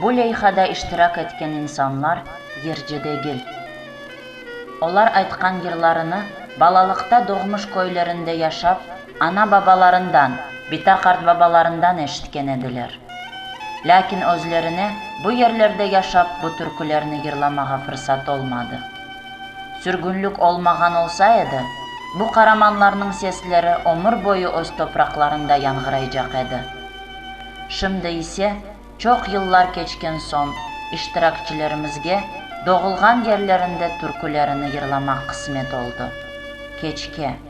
Bu leyhada iştirak etken insanlar yercedegil. Olar aytqan yırlarını balalıqta doğmuş köylerinde yaşap, ana-babalarından, bita qartbabalarından eşitken ediler. Lâkin özlerine bu yerlerde yaşap bu türkülerni yırlamağa fırsat olmadı. Sürgünlik olmağan olsa edi, bu qaramanlarnıñ sesleri ömür boyu öz topraqlarında yanğıraycaq edi. Şimdi ise, çoq yıllar keçken soñ, iştirakçilerimizge doğulğan yerlerinde türkülerini yırlamaq qısmet oldı. Keçke.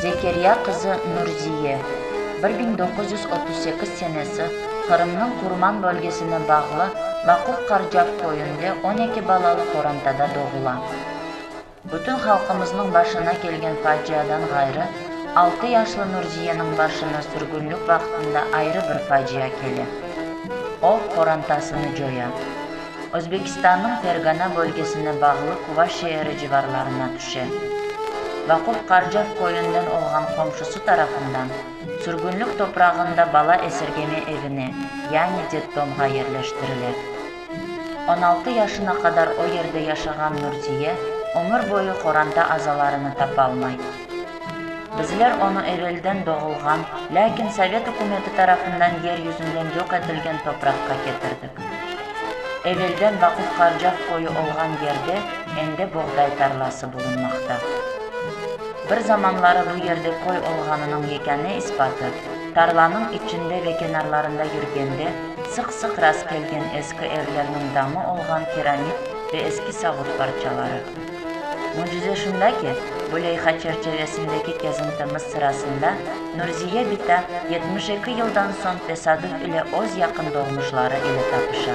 Zekeriya qızı Nurziye, bir biñ doquz yüz otuz sekiz senesi, Qırımnıñ Qurman bölgesine bağlı Maquf-Qarcav köyünde on eki balalı qorantada doğula. Bütün halqımıznıñ başına kelgen faciadan ğayrı, altı yaşlı Nurziyeniñ başına sürgünlik vaqtında ayrı bir facia kele. O, qorantasını coya. Özbekistannıñ Fergana bölgesine bağlı Kuva şeeri civarlarına tüşe. Vaquh Qarcev köyünden olğan qomşusı tarafından sürgünlik toprağında bala esirgeme evine, yani detdomğa yerleştirile. On altı yaşına qadar o yerde yaşağan Nurziye ömür boyu qoranta azalarını tapalmay. Bizler onı evelden doğulğan, lâkin sovet ükümeti tarafından yer yüzünden yoq etilgen topraqqa ketirdik. Evelden Vaquf Qarcav köyü olğan yerde endi boğday tarlası bulunmaqta. Bir zamanları bu yerde köy olğanınıñ yekâne ispatı, tarlanıñ içinde ve kenarlarında yürgende, Sıq-sıq rast kelgen eski evlerniñ damı olğan keramit ve eski savut parçaları. Mücize şunda ki, bu leyha çerçevesindeki kezintimiz sırasında Nurziye bita yetmiş eki yıldan soñ tesadüf ile öz yaqın doğmuşları ile tapışa.